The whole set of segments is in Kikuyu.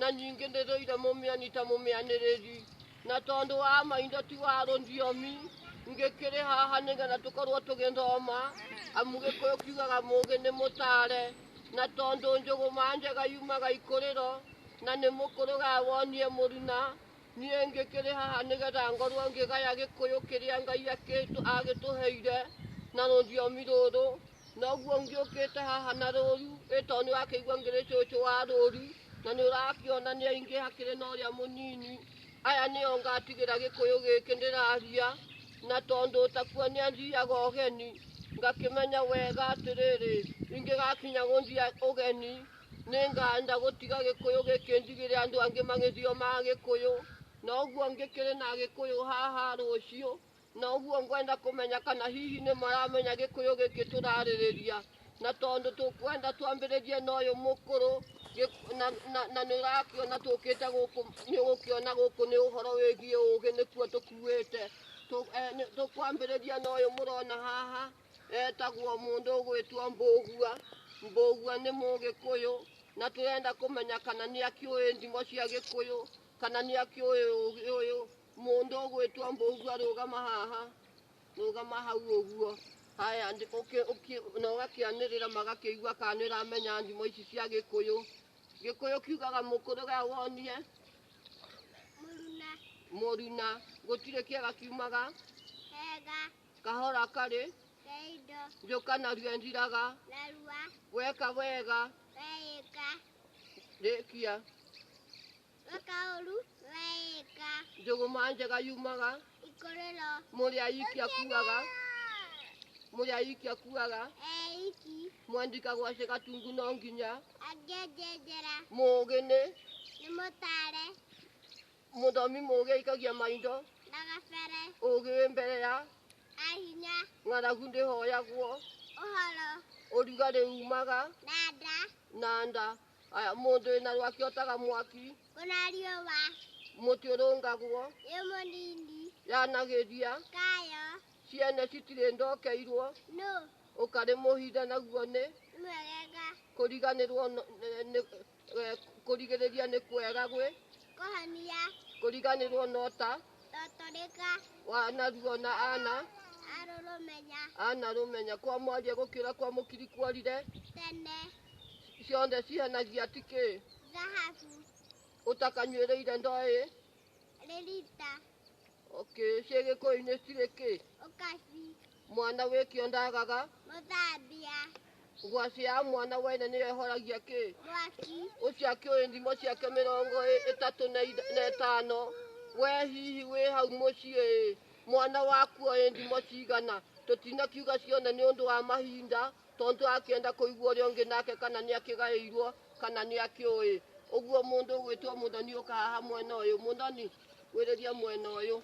na ningĩ nĩ rũire mũmĩani ta mũmĩanĩrĩri na tondũ wa maindo ti wa rũthiomi ngĩkĩrĩ haha nĩgetha tũkorwo tũgĩthoma amu gĩkũyũ kiugaga mũgĩ nĩ mũtare na tondũ njũgũma njega yumaga ikũrĩro na nĩ mũkũrũga wonie mũruna niĩ ngĩkĩrĩ haha nĩgetha ngorwo ngĩgaya gĩkũyũ kĩrĩa ngai akĩtũ- agĩtũheire na rũthiomi rũrũ noguo ũngĩ ũkĩte haha na rũru ĩ tondũ nĩ wakĩigua ngĩrĩ cũcũ wa rũru na nĩ ũrakĩona nĩ aingĩ hakĩrĩ na ũrĩa mũnini aya nĩo ngatigĩra gĩkũyũ gĩkĩ ndĩraria na tondũ ũtakuo nĩ athiaga ũgeni ngakĩmenya wega atĩrĩrĩ ingĩgakinya gũthia ũgeni nĩ nganda gũtiga gĩkũyũ gĩkĩ ndigĩre andũ angĩ magĩthio ma gĩkũyũ na ũguo ngĩkĩrĩ na gĩkũyũ haha rũciũ Na ũguo ngwenda kũmenya kana hihi nĩ maramenya gĩkũyũ gĩkĩ tũrarĩrĩria. Na tondũ tũkwenda twambĩrĩrie na ũyũ mũkũrũ, gĩ- na, na, na nĩ ũrakĩona tũkĩte gũkũ, nĩ ũgũkĩona gũkũ nĩ ũhoro wĩgiĩ ũgĩ nĩkuo tũkuĩte. Tũ- eh, nĩ- Tũkwambĩrĩria na ũyũ mũrona haha, etagwo mũndũ ũgwĩtwo Mbũgua. Mbũgua nĩ mũgĩkũyũ, na tũrenda kũmenya kana nĩ akĩũĩ ndimo cia gĩkũyũ, kana nĩ akĩũĩ ũgĩ ũyũ, Mũndũ ũgwĩtwo Mbũgua rũgama haha, rũgama hau ũguo. Haya, ndi- ũkĩ- ũkĩ- na ũgakĩanĩrĩra magakĩigua kana nĩ ũramenya thimo ici cia Gĩkũyũ. Gĩkũyũ kiugaga mũkũrũ ga wonie mũruna mũruna, gũtirĩ kĩega kiumaga, hega kahora karĩ, keindo njũka narua ĩthiraga, narua weka wega, weĩka rĩkia. gakaũru wega njũgũma njega yumaga ikorero mũrĩa iki akuaga mũrĩa iki akuaga eiki mwandika gwacĩ gatungu no nginya angĩenjenjera mũgĩ nĩ nĩ mũtare mũthomi mũgĩ aikagia maindo na gabere ũgĩ wĩ mbere ya ahinya ng'aragu ndĩhoyagwo ũhoro ũrugarĩ umaga na nda na nda aya mũndũ wĩna rwaki otaga mwaki Ona riũa mũtĩ ũrũngagwo ĩ mũnini yanagĩria kayo ciene citirĩ ndokeirwo nũ ũkarĩ mũhithe naguo nĩ mwegega kũriganĩrwo no- nĩ- nĩ- eh, kũrigĩrĩria nĩ kwega gwĩ kũhonia kũriganĩrwo no ta Totoleka wa anaruo na ana aroromenya ana rũmenya kwa mwaria gũkĩra kwa mũkiri kuorire tene ciothe cihanagia tikĩ thahabu ũtakanyuĩrĩire ndoĩ rĩrita okay ciĩgĩkũyũ-inĩ cirĩ kĩ ũkaci Mwana wĩkĩo ndagaga. Mũthambia. Ngwacĩ ya mwana wene nĩyo ĩhoragia kĩ? Mwaki. Ũcio akĩũĩ ndimo ciake mĩrongo ĩtatũ na ĩtano. We hihi wĩ hau mũciĩ ĩ, mwana waku oĩ ndimo cigana? Tũtinakiuga ciothe nĩ ũndũ wa mahinda, tondũ tũrakĩenda kũigua ũrĩa ũngĩ nake kana nĩ akĩgaĩirwo kana nĩ akĩũĩ. Ũguo mũndũ ũgwĩtwo mũthoni ũka haha mwena ũyũ. Mũthoni, gwĩrĩria mwena ũyũ,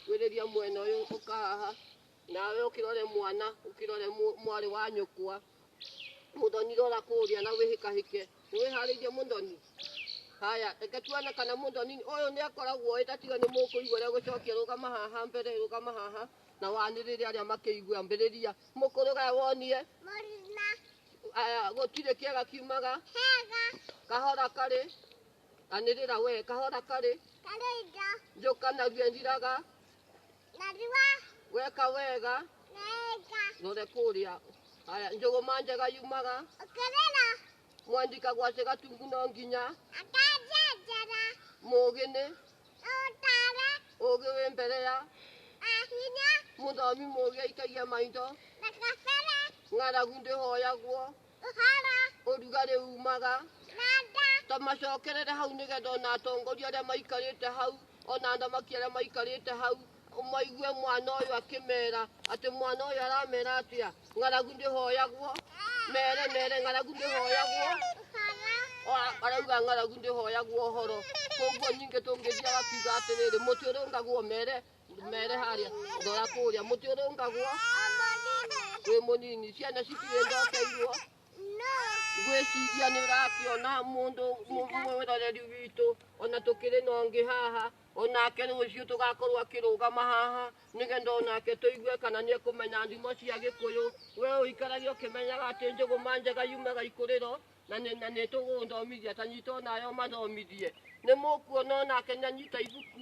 gwĩrĩria mwena ũyũ, ũka haha. nawe ukirore mwana ukirore mu- mwarĩ wa nyũkwa mũthoni rora kũrĩa na wĩhĩkahĩke nĩwĩharĩirie mũthoni haya reke tuone kana mũthoni ũyũ nĩ akoragwo ĩ tatiga nĩ mũkũigua rĩa gũcokia rũgama haha mbere rũgama haha na wanĩrĩre arĩa makĩigua ambĩrĩria mũkũrũgaya wonie Morina. aya gũtirĩ kĩega kiumaga Hega. kahora karĩ anĩrĩra we kahora karĩ Kalinda. njũkanagia njiraga Narua. Weka wega. Wega. Nore kũrĩa. Haya, njũgũma njega yumaga. Ũkĩrĩra. Mwandika gwacĩ gatungu no nginya. Akanjenjera. Mũgĩ nĩ. Ũtare. Ũgĩ wĩ mbere ya. Ahinya. Mũthomi mũgĩ aikagia maitho. Ndakabere. Ng'aragu ndĩhoyagwo. Ũhara. Ũrugarĩ umaga. Nanda. Tamacokerere hau nĩgetha ona atongoria arĩa maikarĩte hau ona athamaki arĩa maikarĩte hau maigue mwana ũyũ akĩmera atĩ mwana ũyũ aramera atĩa ng'aragu ndĩhoyagwo mere mere ng'aragu ndĩhoyagwo Ũhara. arauga ng'aragu ndĩhoyagwo ũhoro koguo ningĩ tũngĩthiaga kiuga atĩrĩrĩ mũtĩ ũrũngagwo mere mere haria ndora kuria muti uri ungagwo wi munini ciana cikire ndokeirwo ngwiciria ni urakiona mundu mwiroreri witũ ona tũkĩrĩ na ũngĩ haha onake rũciũ tũgakorwo akĩrũgama haha nĩgetha onake tũigue kana nĩ ekũmenya ndimo cia gĩkũyũ we ũikarage ũkĩmenyaga atĩ njũgũma njega yumaga ikũrĩro na nĩ na nĩ tũgũthomithia tanyita onayo mathomithie nĩ mũkuona onake nĩ anyita ibuku